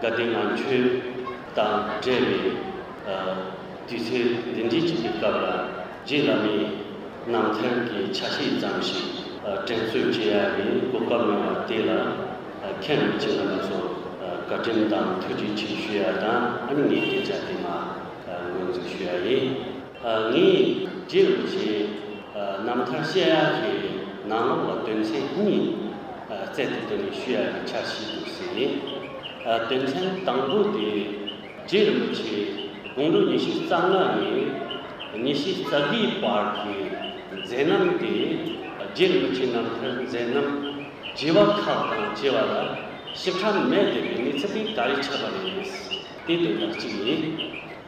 དགའ་བདེ་ངང་ཆོས་དང་འབྲེལ་བའི་དུས་ཚོད་འདི་འདྲིས་ཅིག་གི་སྐབས་ལ་རྗེ་བླ་མའི་རྣམ་ཐར་གྱི་ཆ་ཤས་ཙམ་ཞིག་དྲན་གསོས་བྱེད་ཡ་ཡི་གོ་སྐབས་ཡོང་བ་དེ་ལ་མཁན་པོ་རྗེ་བླ་མ་ཚོར་བཀའ་དྲིན་དང་ཐུགས་རྗེ་ཆེ་ཞུ་ཡ་དང་ཨ་ནི་ངས་སྐད་ཆ་དེ་མ་ངོས་འཛུགས་ཞུ་ཡ་ཡིན། ངས་རྗེས་ལུས་ཀྱི་རྣམ་ཐར་བཤད་ཡག་གི་ནང་ལོགས་ལ་དོན་ཚན་གཉིས་བཙལ་ཏེ་བཏོན་ནས་ཞུ་ཡག་གི་འཆར་གཞི་བསྒྱུར་ཟིན། དོན་ཚན་དང་པོ་དེ་རྗེས་ལུས་ཀྱི་དགུང་ལོ་ཉི་ཤུ་རྩ་ལྔ་ནས་ཉི་ཤུ་རྩ་དགུའི་བར་གྱི་མཛད་རྣམ་སྟེ་རྗེས་ལུས་ཀྱི་རྣམ་ཐར་མཛད་རྣམ་བགྱི་བ་ཁག་དང་བཅས་པ་ལ་ཞིབ་ཕྲ་མས་བསྡེབས་པའི་གནས་ཚུལ་གྱི་ག་རེ་ཆགས་པ་རེད་དེ་དོན་དག་གཅིག་ཡིན།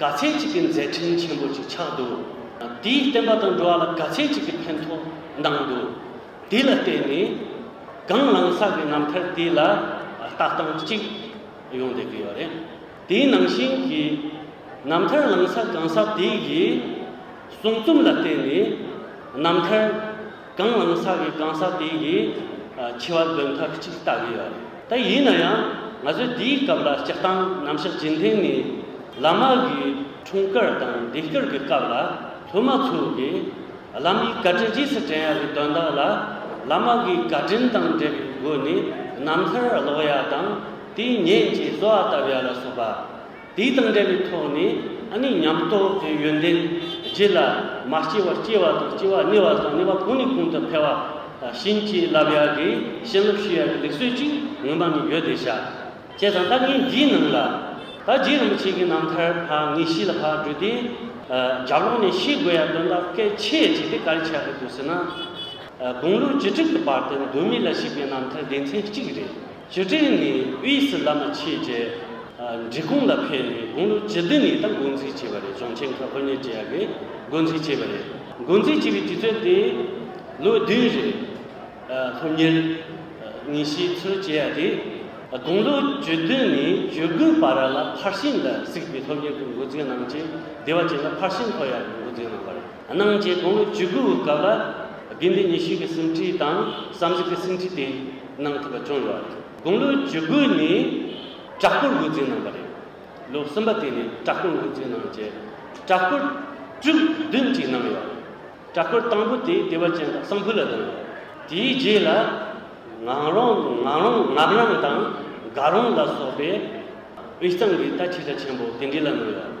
དགའ་ཚལ་ཅིག་གི་མཛད་འཕྲིན་ཆེན་པོ་ཅིག་ཆགས་འདུག་དེའི་བསྟན་པ་དང་འགྲོ་བ་ལ་དགའ་ཚལ་ཅིག་གི་ཕན་ཐོགས་གནང་འདུག་དེ་ལ་བརྟེན་ནས་གངས་ལང་ས་གི་རྣམ་ཐར་དེ་ལ་ལྟ་སྟངས་གཅིག་ཡོང་བསྡད་ཀྱི་ཡོད་རེད། དེའི་ནང་བཞིན་གྱི་རྣམ་ཐར་ལང་ས་གངས་ས་དེ་ཡི་གསུང་རྩོམ་ལ་བརྟེན་ནས་རྣམ་ཐར། གང་ངོ་ནི་ས་གའི་གང་ཟག་དེ་ཡིས་འཆི་བ་འདོན་ཐབས་གཅིག་ལྟ་གི་ཡོད་དེ། ཡིན་ན་ཡང་ང་ཚོས་དེའི་སྐབས་ལ་སྤྱིར་བཏང་ནམ་ཞག་རྗེས་མཐུན་ནི་བླ་མ་གི་འཁྲུངས་སྐར་དང་འདས་སྐར་གི་སྐབས་ལ་སློབ་མ་ཚོས་ཀྱི་བླ་མའི་བཀའ་དྲིན་རྗེས་སུ་དྲན་ཡ་གི་དོན་དག་ལ་བླ་མ་གི་བཀའ་དྲིན་དང་འབྲེལ་བའི་སྒོ་ནས་རྣམ་ཐར་ཀློག་ཡ་དང་དེའི་ཉེན་བཅས་གསོ་བ་བཏབ་ཡ་ལ་སོགས་པ། དེ་དང་འབྲེལ་བའི་ཐོག་ནས་ཨ་ནི་ཉམས་རྟོགས་ཀྱི་ཡོན་ཏན་རྗེས་ལ་མ་སྐྱེས་བར་སྐྱེ་བ་དང་སྐྱེ་བ་གནས་བ་དང་གནས་བ་གོང་ནས་གོང་དུ་འཕེལ་བ་བྱིན་གྱིས་བརླབས་ཡག་གི་བྱིན་རླབས་ཞུ་ཡག་གི་ལེགས་སོས་ཅིག་ངོ་མ་ནི་ཡོད་དེ་བྱ། ཅེས་དང་ལྟ་ངན་འདིའི་ནང་ལ་ད་རྗེ་རིན་པོ་ཆེ་གི་རྣམ་ཐར་ཕ་ངེས་ཤེས་ལ་ཕར་བགྲོས་ཏེ་རྒྱབ་ལོག་ནས་ཤེས་དགོས་ཡག་དོན་དག་སྐད་ཆས་བྱས་ཏེ་ག་རེ་བྱ་གི་འདུག་ཟེར་ན་དགུང་ལོ་བཅུ་དྲུག་གི་བར་དུ་འདུག་མི་ལ་ཞིག་པའི་རྣམ་ཐར་སྡེ་ཚན་གཅིག་རེད། བཅུ་དྲུག་ནས་དབུས་སུ་བླ་མ་ཆོས་རྗེ་འབྲི་གུང་ལ་ཕེབས་ནས་དགུང་ལོ་བཅུ་བདུན་ནས་ད་འགོ་འཛུགས་བྱས་པ་རེད་རྫོང་ཆེན་ཁག་ཧོར་ཉེར་བརྒྱད་ཡ་གིས་འགོ་འཛུགས་བྱས་པ་རེད་འགོ་འཛུགས་བྱས་པའི་དུས་ཚོད་དེ་ལོ་བདུན་རེད། སློབ་གཉེར་ཉིན་ཞིག་ཚུར་བྱས་ཡ་དེ་དགུང་ལོ་བཅུ་བདུན་ནས་བཅུ་དགུའི་བར་ལ་ཕར་ཕྱིན་ལ་གཟིགས་པའི་སློབ་གཉེར་གྱི་འགོ་འཛིན་གནང་རྗེས་སྡེ་བ་ཅན་ལ་ཕར་ཕྱིན་ཐོ་ཡ་ནས་འགོ་འཛིན་གནང་བ་རེད། གནང་རྗེས་དགུང་ལོ་བཅུ་དགུ་བའི་སྐབས་ལ་དགེ་འདུན་ཉི་ཤུ་གི་གསུང་ཁྲིད་དང་བསམ་གཟིགས་ཀྱི་སེམས་ཁྲིད་དེ་གནང་ཐུབ་པ་བྱུང་ཡོད་པ་རེད། དགུང་ལོ་བཅུ་དགུ་ནས་བྲག་སྐོར་འགོ་འཛིན་གནང་བ་རེད། ལོ་གསུམ་པ་དེ་ནས་བྲག་སྐོར་འགོ་འཛིན་གནང་རྗེས་བྲག་སྐོར་བཅུ་བདུན་གཅིག་གནང་ཡོད་པ་རེད། བྲག་སྐོར་དང་པོ་དེ་བདེ་བ་ཅན་དང་གསང་ཕུ་ལ་གནང་ཡོད། དེའི་རྗེས་ལ་ངག་རོང་ངག་རོང་ངག་རང་དང་དགའ་རོང་ལ་སོགས་པའི་དབུས་གཙང་གི་རྟ་ཕྱི་དགྲ་ཆེན་པོ་དེ་འདྲི་ལ་གནང་ཡོད།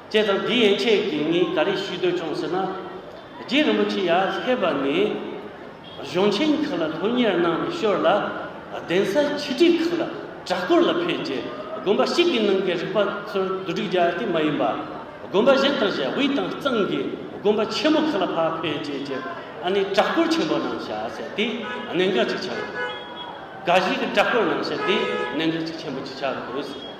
ཅེས་དང་དེའི་ཡན་ཆད་ཀྱིས་ངས་ག་རེ་ཞུས་འདོད་བྱུང་ཟེར་ན། རྗེ་རིན་པོ་ཆེ་ཡར་སླེབས་པ་ནས་གཞུང་ཆེན་ཁག་ལ་ལྷུར་གཉེར་གནང་ནས་ཤོར་ལ་གདན་ས་ཆིག་སྒྲིལ་ཁག་ལ་གྲྭ་སྐོར་ལ་ཕེབས་རྗེས་དགོན་པ་གཅིག་གི་ནང་གི་རིག་པ་ཚོར་བསྡུ་སྒྲིག་རྒྱག་སྟེ་མ་ཡིན་པ་དགོན་པ་གཞན་དང་བཞི་དབུས་དང་གཙང་གི་དགོན་པ་ཆེན་མོ་ཁག་ལ་ཕར་ཕེབས་རྗེས་ཀྱི་ནས་གྲྭ་སྐོར་ཆེན་པོ་གནང་བྱ་ཟེར་ཏེ་གནད་འགག་ཅིག་ཆགས་ཡོད། འགའ་ཞིག་གིས་གྲྭ་སྐོར་གནང་བྱ་དེ་གནད་འགག་ཅིག་ཆེན་པོ་ཅིག་ཆགས་དགོས།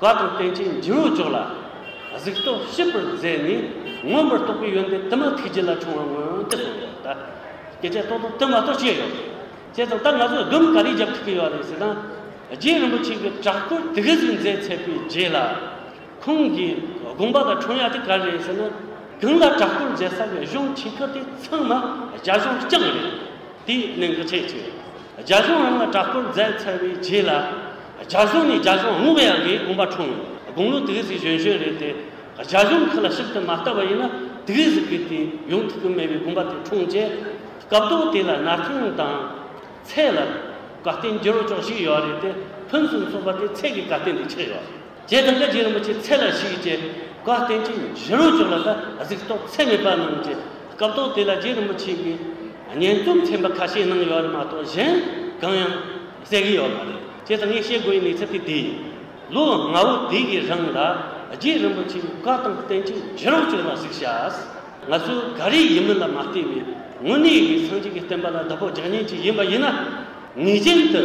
བཀའ་དང་བསྟན་བཅོས་འབྲས་བུ་མཆོག་ལ། གཟིགས་རྟོག་ཞིབ་པར་མཛད་ནས། མངོན་པར་རྟོགས་པའི་ཡོན་ཏན་དུ་མ་ཐུགས་རྗེ་ལ་འབྱུང་བར་མངོན་དུ་བསྟོད་ཡོད་པ་དང། སྐད་ཆ་རྟོག་དང་དུ་མ་རྟོག་བྱེད་ཡོད། བྱས་ཙང་ད་ང་ཚོས་ཟླུམ་ག་རེ་རྒྱབ་ཐུབ་ཀྱི་ཡོད་རེད་ཟེར་ན། རྗེ་རིན་པོ་ཆེ་གི་བྲག་བརྐོས་དུས་གཟིགས་མཛད་ཚད་པའི་རྗེས་ལ། ཁོང་གིས་དགོངས་པ་དང་འཕྲོ་ཡ་དེ་ག་རེད་ཟེར་ན། དེང་ལ་བྲག་བརྐོས་མཛད་ས་ཀྱི་གཞུང་ཆེ་ཁག་དེ་ཚང་མ་རྒྱ་གཞུང་རྐྱང་རེད། དེ་ནི་འགུལ་བྱེད་ཅིང་རྒྱ་གཞུང་རང་ལ་དྲག་བསྐུར་མཛད་ཚར་བའི་རྗེས་ལ། རྒྱ་གཞུང་ནས་རྒྱ་གཞུང་དབུ་བའི་འགའི་དགོངས་པ་འཁྲུངས་ཡོད། དགུང་ལོ་དགུའི་གཟིགས་གཞོན་གཞོན་རེད་དེ། རྒྱ་གཞུང་ཁ་ལ་ཞིབ་ཏུ་མ་བལྟ་བ་ཡིན་ན་དེའི་གཟིགས་པའི་དུས་ཡུན་ཐུག་གི་མེད་པའི་དགོངས་པ་དེ་འཁྲུངས་རྗེས། སྐབས་ཐོག་དེ་ལ་ན་ཐང་དང། ཚད་ལ། དགའ་ལྟན་བསྒྱུར་ཆོག་ཞིག་ཡོད་རེད་དེ། ཕུན་སུམ་ཚོགས་པ་དེ་ཚད་ཀྱི་དགའ་ལྟན་དུ་ཆགས་ཡོད་རེད། རྗེ་དམ་པ་རྗེ་རིན་པོ་ཆེ་ཚེ་ལ་ཞུས་ཀྱིས་བཀའ་བསྟན་ཅིང་བཞི་རུ་བྱོན་ལ་ད་གཟིགས་རྟོགས་ཚད་མེད་པ་གནང་རྗེས་སྐབས་ཐོག་དེ་ལ་རྗེ་རིན་པོ་ཆེས་གིས་སྙན་རྩོམ་ཚན་པ་ཁ་ཤས་གནང་ཡོད་པ་མ་གཏོགས་གཞན་གང་ཡང་གསལ་གི་ཡོད་མ་རེད། ཅེས་ངས་བཤད་དགོས་ཡི་གནས་ཚུལ་དེ་དེ་ཡིན། ལོ་ལྔ་བོ་དེ་ཡི་རིང་ལ་རྗེ་རིན་པོ་ཆེས་བཀའ་དང་བསྟན་ཅིང་བཞི་རུ་བྱོན་ལ་གཟིགས་བྱས། ང་ཚོས་ག་རེ་ཡིན་མིན་ལ་མ་བལྟས་པའི་དངོས་གནས་ཡི་གེ་ཚང་གཅིག་གི་བསྟན་པ་ལ་བདག་པོ་རྒྱག་ཉེན་གཅིག་ཡིན་པ་ཡིན་ན་ངེས་ཅན་དུ།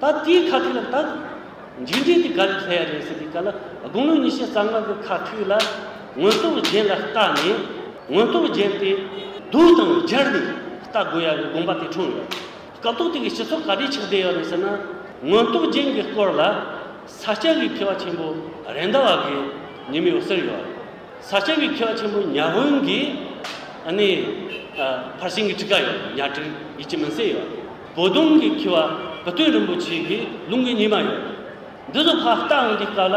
ད་དེའི་ཁ་ཐུག་ལ་བལྟ། མཇུག་འབྲས་དེ་ག་རེ་ལྷད་ཡ་རེད་ཟེར་དུས་ག་ལ་དགུང་ལོ་ཉི་ཤུ་རྩ་ལྔ་པའི་ཁ་ཐུག་ལ། དངོས་སྟོབས་རྒྱན་ལ་བལྟ་ནས་དངོས་སྟོབས་རྒྱན་དེ་སྡུག་དང་སྦྱར་ནས་བལྟ་དགོས་ཡ་བའི་དགོངས་པ་དེ་འཁྲུངས་ཡོད། སྐབས་ཐོག་དེ་གའི་སྤྱི་ཚོགས་ག་རེ་ཆགས་བསྡད་ཡོད་རེད་ཟེར་ན། དངོས་སྟོབས་རྒྱན་གྱི་སྐོར་ལ་ས་སྐྱ་བའི་མཁས་པ་ཆེན་པོ་རེད་མདའ་བ་གའི་ཉི་མའི་འོད་ཟེར་ཡོད། ས་སྐྱ་བའི་མཁས་པ་ཆེན་པོ་ཉག་དབོན་གྱི་ཨ་ནེ། ཕར་ཕྱིན་གྱི་ཁྲི་ཀ་ཡོད་ཉག་ཁྲི་ཡིད་ཀྱི་མུན་སེལ་ཡོད། བོ་གདོང་གིས་འཁྱིལ་བ་བུ་སྟོན་རིན་པོ་ཆེ་གི་ལུང་གི་ཉི་མ་ཡོད། འདི་ཚོ་ཁག་ལྟ་འང་འདི་སྐབས་ལ་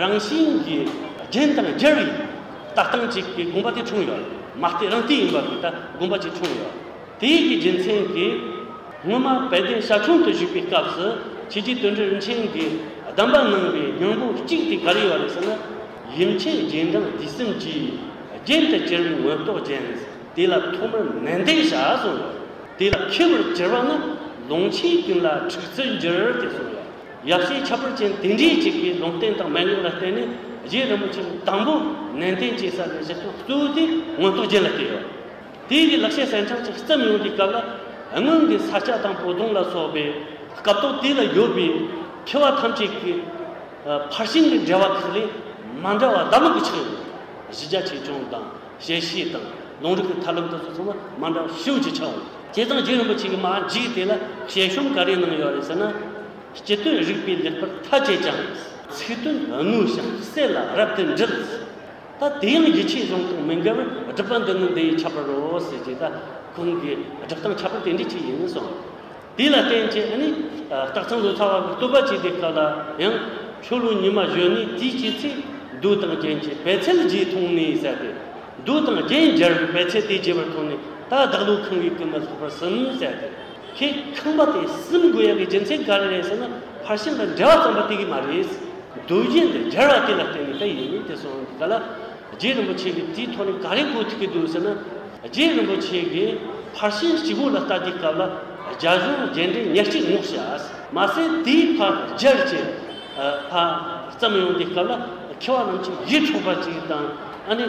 རང་བཞིན་གྱི་རྒྱན་དང་སྦྱར་བའི་ལྟ་སྟངས་གཅིག་གི་དགོངས་པ་དེ་འཁྲུངས་ཡོད། མ་ལྟས་རང་ལྟས་ཡིན་པ་དེ་ལྟ་དགོངས་པ་གཅིག་འཁྲུངས་ཡོད། དེ་ཡིག་གི་རྒྱུ་མཚན་གྱིས། སྔོན་མ་དཔལ་ལྡན་ཞབས་དྲུང་དུ་བཞུགས་པའི་སྐབས་སུ་ཁྱེད་ཀྱིས་དོན་གྲུབ་མཆན་གྱི་གདམས་པ་གནང་བའི་མྱང་པོ་གཅིག་དེ་ག་རེ་ཡོད་རེད་ཟེར་ན། ཡུམ་མཆེད་རྗེས་འབྲང་དུས་གསུམ་གྱིས་རྒྱན་དུ་གྱེར་བའི་མངོན་རྟོགས་རྒྱན་དེ་ལ་ཐོག་མར་ནན་ཏན་བྱ་གསུངས་ཡོད། དེ་ལ་ཁེལ་བར་འགྱུར་བ་ནི་ལུང་ཆེན་ཀུན་ལ་འཁྲུགས་རྩོད་འགྱུར་ཏེ་གསུངས་ལ། ཡབ་སྲས་ཁྱད་པར་ཅན་དེ་འདྲའི་གཅིག་གིས་ལུང་བསྟན་དང་མན་ངག་ལ་བརྟེན་ནས་རྗེ་རིན་པོ་ཆེའི་དང་པོ་ནན་ཏན་གྱི་ས་ནས་གཞི་རྐང་བཙུགས་ཏེ་མངོན་རྟོགས་རྒྱན་ལ་བསྟེན་ཡོད། དེ་ཡི་ལེགས་བཤད་གསན་དྲངས་ཀྱི་རྩིབས་ཡོངས་ཀྱི་སྐབས་ལ་སྔོན་གྱི་ས་སྐྱ་དང་བོ་དོང་ལ་སོགས་པའི་སྐབས་ཐོག་དེ་ལ་ཡོད་པའི་མཁས་བ་ཐམས་ཅད་ཀྱི་ཕར་ཕྱིན་གྱི་འགྲེལ་བ་ཁག་ལས་མ་འདྲ་བ་ཟླ་ལུག་གི་ཕྱག་ཡོན། གཞི་རྒྱ་ཆེ་ཆུང་དང། ཞལ་བཞེས་དང་ལུང་རིགས་ཀྱི་ཐབས་ལམ་དུ་སོགས་ཚང་མ་མ་འདྲ་བ་ཤུགས་ཀྱིས་འཆང་འོས། དེ་དང་རྗེ་རིན་པོ་ཆེ་གི་མ་འཇིགས་དེ་ལ་ཞལ་ཤོམ་ག་རེ་གནང་ཡོད་རེད་ཟེར་ན། སྤྱི་དོན་རིགས་པས་ལེགས་པར་མཐའ་དཔྱད་ཀྱང་རེད། ཚིག་དོན་དངོས་བྱང་གསལ་ལ་རབ་ཏུ་འདྲིལ། ད་དེ་ཡང་ཡིད་ཆེས་གཞུང་དང་མི་འགལ་བས་སྒྲུབ་པ་འདི་ནི་འདི་ཡི་ཁྱད་པར་རོ་ཟེར་རྗེས་ད་ཁོང་གིས་སྒྲུབ་སྟངས་ཁྱད་པར་དེ་འདྲའི་ཅིག་ཡིན་གསུངས། དེ་ལ་བརྟེན་བཅས་ནི། རྟགས་ཚང་དུ་ཚང་བ་གྱི་བསྟོད་པ་བྱེད་པའི་སྐབས་ལ་ཡང། ཆོས་ལུགས་ཉི་མ་གཞོན་ནུའི་རྩིས་བྱེད་ཚེ། རྡུལ་དང་རྒྱན་གྱི་བད་ཚལ་རྗེས་མཐོང་ནས་བསལ་ཏེ། རྡུལ་དང་རྒྱན་སྦྱར་བའི་བད་ཚལ་དེ་རྒྱས་པར་མཐོང་ནས་ད་བདག་ལུས་ཁང་བའི་སྐུ་མ་ལྷག་པར་སིམ་བསལ་ཏེ། ཁྱེད་ཁང་པ་དེ་སིམ་དགོས་ཡག་གི་རྒྱུ་མཚན་ག་རེ་རེད་ཟེར་ན་ཕར་ཕྱིན་དང་འབྲེལ་བ་ཙམ་པ་དེ་གི་མ་རེད། རྡུལ་རྒྱན་དེ་སྦྱར་བ་དེ་ལ་བརྟེན་ནས་བད་ཡོད་མིན་དེ་སོགས་འདི་ག་ལ། རྗེ་རིན་པོ་ཆེ་གིས་དེའི་ཐོག་ནས་ག་རེ་གོ་ཐུབ་ཀྱི་འདུག་ཟེར་ན། རྗེ་རིན་པོ་ཆེ་གིས་ཕར་ཕྱིན་སྤྱི་བོ་ལ་ལྟ་དུས་སྐབས་ལ་རྒྱ་གཞུང་རྗེས་འབྲེལ་ཉེར་གཅིག་བསྔོག་བྱས། མ་ཟད་དེའི་ཕར་རྒྱལ་གྱི་ལྷ་བརྩམས་ཡོང་དུས་སྐབས་ལ་མཁས་བ་རྣམས་ཀྱིས་གཞི་འཕྲོག་པ་ཅིག་དང་ཨ་ནི་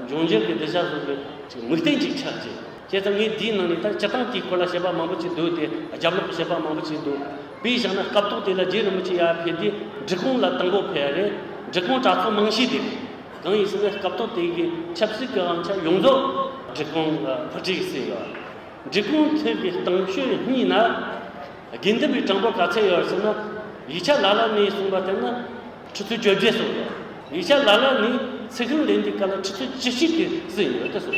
འབྱུང་འགྱུར་གྱི་བདེ་འཇགས་བཟོ་རྒྱུ་ཅིག་མིག་རྟེན་ཅིག་ཆགས་རྗེས། བྱས་ཙང་ངའི་དེའི་ནང་ནས་ད་སྤྱི་སྟངས་དེའི་སྐོར་ལ་བཤད་པ་མང་པོ་ཅིག་འདུག་སྟེ་རྒྱབ་ལོག་གི་བཤད་པ་མང་པོ་ཅིག་འདུག་དཔེ་བཞག་ན་སྐབས་ཐོག་དེ་ལ་རྗེ་རིན་པོ་ཆེ་ཡར་ཕེབས་དུས་འབྲི་གུང་ལ་དང་པོ་ཕེབས་རེད་འབྲི་གུང་གྲྭ་ཚོགས་མང་ཤོས་དེ་རེད་གང་ཡིན་ཟེར་ན་སྐབས་ཐོག་དེ་གི་ཆབ་སྲིད་ཀྱི་དབང་ཆ་ཡོངས་རྫོགས་འབྲི་གུང་ལ་ཕུལ་གྱི་སྲིད་ལ་འབྲི་གུང་ཐོན་པའི་གཏམ་ཤོད་གཉིས་ན་དགེ་འདུན་པའི་གྲངས་འབོར་ག་ཚད་ཡོད་ཟེར་ན་ཡིག་ཆ་ལ་ལ་ནས་གསུངས་པ་ལྟར་ན་ཁྲི་ཚོ་བཅོ་བརྒྱད་སོང་ཡོད་ཡིག་ཆ་ལ་ལ་ནས་ཚིག་རིང་ལེན་དུས་ག་ལ་ཁྲི་ཚོ་བཅུ་གཅིག་གི་ཟིན་ཡོད་དེ་སོང་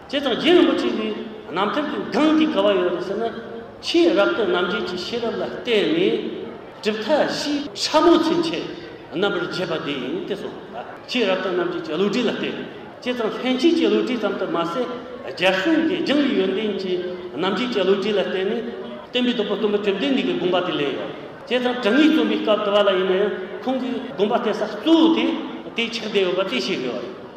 བྱས་ཙང་རྗེ་རིན་པོ་ཆེ་གིས་རྣམ་ཐར་གྱི་སྒང་འདི་ག་བ་ཡོད་རེད་ཟེར་ན། ཆེས་རབ་ཏུ་རྣམ་འབྱེད་ཀྱི་ཤེས་རབ་ལ་བརྟེན་ནས་གྲུབ་མཐའ་བཞི། ཕྲ་མོ་ཚུན་ཆད་རྣམ་པར་འབྱེད་པ་འདི་ཡིན་ཏེ་སོགས་ལ་ཆེས་རབ་ཏུ་རྣམ་འབྱེད་ཀྱི་བློ་གྲོས་ལ་བརྟེན། བྱས་ཙང་ལྷན་སྐྱེས་ཀྱི་བློ་གྲོས་ཙམ་དུ་མ་ཟད་རྒྱལ་སྲུང་གི་སྦྱང་བའི་ཡོན་ཏན་གྱི་རྣམ་འབྱེད་ཀྱི་བློ་གྲོས་ལ་བརྟེན་ནས། བསྟན་པའི་རྡོ་པོ་སྟོན་པ་བཅོམ་ལྡན་འདས་ཀྱི་དགོངས་པ་དེ་ལས། བྱས་ཙང་དྲང་ངེས་སྟོན་པའི་སྐབས་དུ་བ་ལ་ཡིན་ན་ཡང་ཁོང་གི་དགོངས་པ་གཏད་ས་གཙོ་བོ་དེ་དེའི་ཕྱག་རྒྱ་ཡོད་པ་དེ་ཤེས་དགོས་པ་རེད།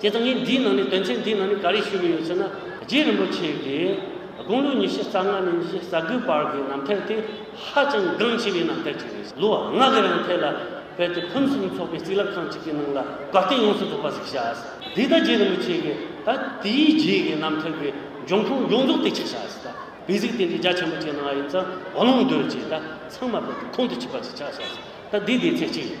དེ་དང་ངས་འདིའི་ནང་ནས་དོན་ཚན་འདིའི་ནང་ནས་ག་རེ་ཞུ་གི་ཡོད་ཟེར་ན། རྗེ་རིན་པོ་ཆེ་གིས་དགུང་ལོ་ཉི་ཤུ་རྩ་ལྔ་ནས་ཉི་ཤུ་རྩ་དགུའི་བར་གྱི་ནམ་ཐལ་དེ་ཧ་ཅང་འགངས་ཆེ་བའི་ནམ་ཐལ་ཅིག་རེད། ལོ་ལྔ་གི་རིང་ཐལ་ལ་ཕེབས་ཏེ་ཕུན་སུམ་ཚོགས་པའི་རྩིས་རླབས་ཁང་གཅིག་གི་ནང་ལ་དགའ་སྟོན་ཡོངས་སུ་རྫོགས་པ་ཞིག་བྱ། འདི་ལྟར་རྗེ་རིན་པོ་ཆེ་གིས་ད་དེའི་རྗེས་ཀྱི་ནམ་ཐལ་གྱི་འབྱུང་ཁུངས་ཡོངས་རྫོགས་དེ་ཕྱིར་བཞག་ཟིན། བི་གཟིགས་དེ་འདྲའི་རྒྱ་ཆེན་པོ་ཅིག་གནང་བ་ཡིན་ཙང་བ་ལང་འདོད་ཅེས་ད་ཚང་མ་ཕེབས་ཏེ་ཁོང་དུ་ཆུད་པ་ཞིག་ཆགས་བཞག་ཟིན། ད་འདི་དེའི་ཚེ་གཅིག་རེད།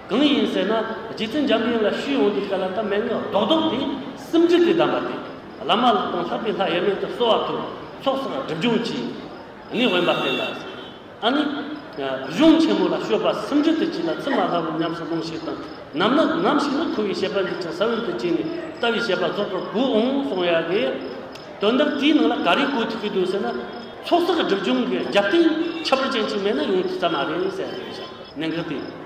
གང་ཡིན་ཟེར་ན་རྗེ་བཙུན་འཇམ་དབྱངས་ལ་ཤུལ་ཡོངས་འདུས་སྐ་ལ་དང་མན་ངག་རྡོག་རྡོག་དེ་གསུམ་འགྲིག་གི་གདམས་པ་སྟེ། བླ་མ་ལ་དང་ལྷག་པའི་ལྷ་དབྱེར་མེད་དུ་གསོལ་བ་ཐུབ་ཚོགས་བསགས་སྒྲིབ་སྦྱོང་གྱིས་ནི་དབེན་པ་བསྟན་ལ། ཨ་ནི། གཞུང་ཆེན་མོ་ལ་བཤོས་པ་སུམ་ཅུ་དུ་བྱས་ལ་ཚིག་མ་ལྷ་བུ་ཉམས་སུ་ལོངས་ཤིག་དང་ནམ་ན་ནམ་ཞིག་ན་ཁུ་བའི་བཤད་པ་འདི་ཅང་ས་བོན་དུ་བྱས་ནས་ལྟ་བའི་བཤད་པ་རྫོགས་པར་བསྒོས་འོང་གསུང་ཡ་གི། དོན་དག་དེའི་ནང་ལ་ག་རེ་བཀོད་ཐུབ་ཀྱི་འདུག་ཟེར་ན། ཚོགས་བསགས་སྒྲིབ་སྦྱོང་གི་རྒྱབ་རྟེན་ཁྱད་པར་ཅན་ཅིག་མེད་ན་ཡོང་ཐུབ་ས་མ་རེད་ཟེར་ཡ་གི། ནན་གྱི་སྟེ།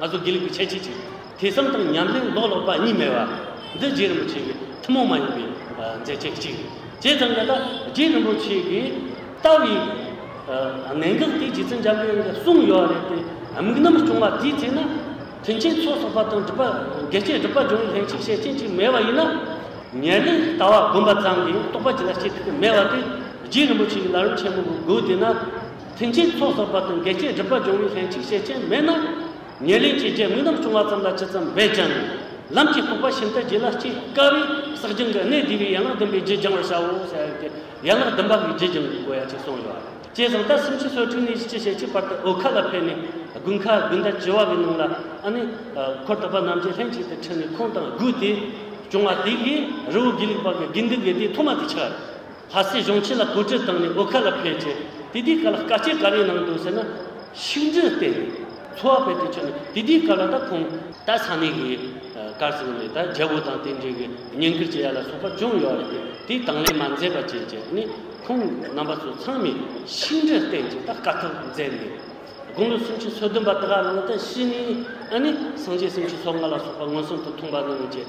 ང་ཚོ་དགེ་ལུགས་ཀྱི་ཁྱད་ཆོས་ཅིག་ཐོས་བསམ་དང་ཉམས་ལེན་ལོག་ལོག་པ་གཉིས་མེད་པ། འདི་རྗེ་རིན་པོ་ཆེ་གི་ཐུན་མོང་མ་ཡིན་པའི་མཛད་རྗེས་གཅིག་རེད། བྱས་ཙང་ད་ལྟ་རྗེ་རིན་པོ་ཆེ་གི་ལྟ་བའི་གནད་འགག་དེ་རྗེ་བཙུན་འཇམ་དབྱངས་ཀྱི་གསུང་ཡོད་རེད་དེ་དམིགས་རྣམ་བྱུང་བ་དེའི་རྗེས་ན་དོན་ཆེན་ཚོགས་གསོག་པ་དང་སྒྲུབ་པ་དགེ་བསྐྱེད་སྒྲུབ་པ་སྦྱོང་བའི་ལྷན་སྐྱེས་ཞལ་ཆེམས་ཅིག་མེད་པ་ཡིན་ན། ཉེར་ལེན་ལྟ་བ་བསྒོམ་པ་ཙམ་གྱིས་རྟོགས་པ་ཅི་ལ་བྱེད་ཐུབ་ཀྱི་མེད་པ་དེ་རྗེ་རིན་པོ་ཆེ་གི་ལ་རོལ་ཆེན་པོ་གི་སྒོ་དེ་ན། མཐུན་རྐྱེན་ཐོག་ཟོག་པ་དང་འགལ་རྐྱེན་སྒྲུབ་པ་འབྱུང་བའི་ལྷན་ཅིག་བྱེད་རྐྱེན་མེད་ན། ཉེར་ལེན་གྱི་རྗེས་དངོས་རྣམས་བྱུང་བ་ཙམ་ལ་ཇི་ཙམ་འབད་ཀྱང། ལམ་གྱི་ལྐུགས་པ་ཤིན་ཏུ་རྒྱས་ལ་སྐྱེ་དཀའ་བས་བསགས་སྦྱང་གི་གནད་བསྡུས་པའི་ཡན་ལག་བདུན་པའི་རྗེས་སྦྱང་བར་བྱའོ་ཞེས་བྱ་བའི་དོན་ཡན་ལག་བདུན་པ་བའི་རྗེས་སྦྱང་གི་དགོས་ཡ་གཅིག་གསུངས་ཡོད། བཅས་བཟང་ལྟར་སུམ་ཅུ་སོ་དྲུག་ནས་ཅི་བྱེད་ཅིག་བར་དུ་འོལ་ཁ་ལ་ཕེབས་ནས་དགུན་ཁ་དགུན་ཟླ་བྱེ་བ་བའི་ནང་ལ་ཨ་ནི། འཁོར་དག་པ་རྣམས་ཀྱིས་ལྷན་ཅིག་ཏུ་ཁྲིད་ནས་ཁོང་དང་སྒུག་སྟེ། བྱུང་བ་དེ་གིས་རི་བོ་དགེ་ལེགས་པ་གི་དགེ་འདུན་དགེ་དེའི་ཐོག་མ་དེ་ཆགས། ལྷ་སའི་གཞུང་ཆེན་ལ་གོ་སྒྲིག་བཏང་ནས་འོ་ཁ་ལ་ཕེབས་རྗེས་དེ་དུས་ག་ལ་དཀའ་སྤྱད་ག་རེ་གནང་འདུག་ཟེར་ན། ཤིང་འབྲས་བཏེགས་ནས་འཚོ་བ་ཕལ་ཏུ་བྱུང་ནས་དེ་དུས་ག་ལ་ད་ཁོང། ད་ས་གནས་ཀྱི་སྐར་ཚོགས་ནས་ད་རྒྱལ་པོ་དང་དེ་འབྲེལ་གྱི་ཉེན་ཁུར་བྱེད་ཡ་ལ་སོགས་པ་ཅུང་ཡོད་རེད་དེ་དུས་དང་ལེན་མ་མཛད་པ་བྱས་རྗེས་ནས་ཁོང་རྣམ་པ་ཚོ་ཚང་མས་ཤིང་འབྲས་བཏེགས་རྗེས་ད་དཀའ་ཐུབ་མཛད་ནས། དགུང་ལོ་སུམ་ཅུ་སོ་བདུན་པ་དགའ་བླང་ཏི་ཤྲི་ནི་ཨ་ནི་སངས་རྒྱས་སུམ་ཅུ་སོ་ལྔ་ལ་སོགས་པ་མངོན་སུམ་དུ་མཐོང་པ་གནང་རྗེས།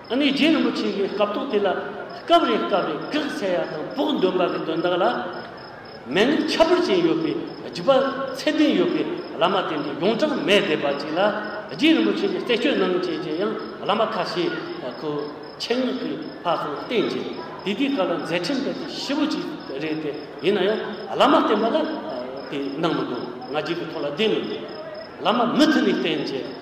ཨ་ནེ་རྗེ་རིན་པོ་ཆེ་འགའི་སྐབས་ཐོག་དེ་ལ་སྐབས་རེ་སྐབས་རེ་སྐེག་ཚལ་ཡག་དང་བོགས་འདོན་པ་གི་དོན་དག་ལ་མན་ངག་ཁྱད་པར་ཅན་ཡོད་པའི་བརྒྱུད་པ་ཚད་ལྡན་ཡོད་པའི་བླ་མ་དེ་འདྲ་ཡོངས་གྲངས་མེད་བསྡད་པ་ཅིག་ལ་རྗེ་རིན་པོ་ཆེ་གི་རྩད་གཅོད་གནང་བྱེད་ཀྱི་ཡང་བླ་མ་ཁ་ཤས་ཁོ་ཆེད་མངགས་ཀྱིས་ཕར་ཚུར་བསྟན་ཅིང་དེ་དུས་སྐབས་ལ་མཛད་འཕྲིན་སྤེལ་ཏེ་ཤི་བོ་ཅིག་རེད་དེ་ཡིན་ན་ཡང་བླ་མ་བསྟན་པ་ལ་དེ་གནང་མི་འདུག་ང་རྒྱལ་གྱི་ཐོག་ལ་བསྡད་མི་འདུག་བླ་མ་མུ་མཐུད་ནས་བསྟེན་བྱས།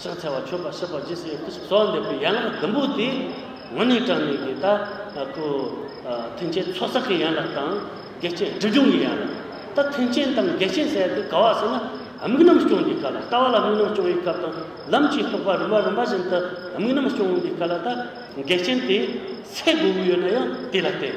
ཕྱག་འཚལ་བ་མཆོད་པ་གསོལ་བ་རྗེས་སུ་ཡི། སོགས་འདེབས་པའི་ཡན་ལག་བདུན་པོ་དེ། ངོ་ནས་དྲངས་ནས་ཀྱི་ལྟ། ཁུ། མཐུན་རྐྱེན་ཚོགས་བསགས་ཀྱི་ཡན་ལག་དང། རྒྱལ་ཆེན་སྒྲིབ་སྦྱོང་གི་ཡན་ལག། ད་མཐུན་རྐྱེན་དང་རྒྱལ་ཆེན་བསལ་ཏེ་དགའ་བ་བསལ་ན། དམིགས་རྣམ་སྐྱོང་གི་བཀའ་ལ་ལྟ་བ་ལ་དམིགས་རྣམ་སྐྱོང་བའི་སྐབས་དང། ལམ་གྱི་རྟོགས་པ་རིམ་པ་རིམ་པ་བཞིན་དུ་དམིགས་རྣམ་སྐྱོང་བའི་བཀའ་ལ་ལྟ། རྒྱལ་ཆེན་དེས། ཚེ་དགུ་དགུ་ཡོད་ན་ཡང་དེ་ལ་བརྟེན།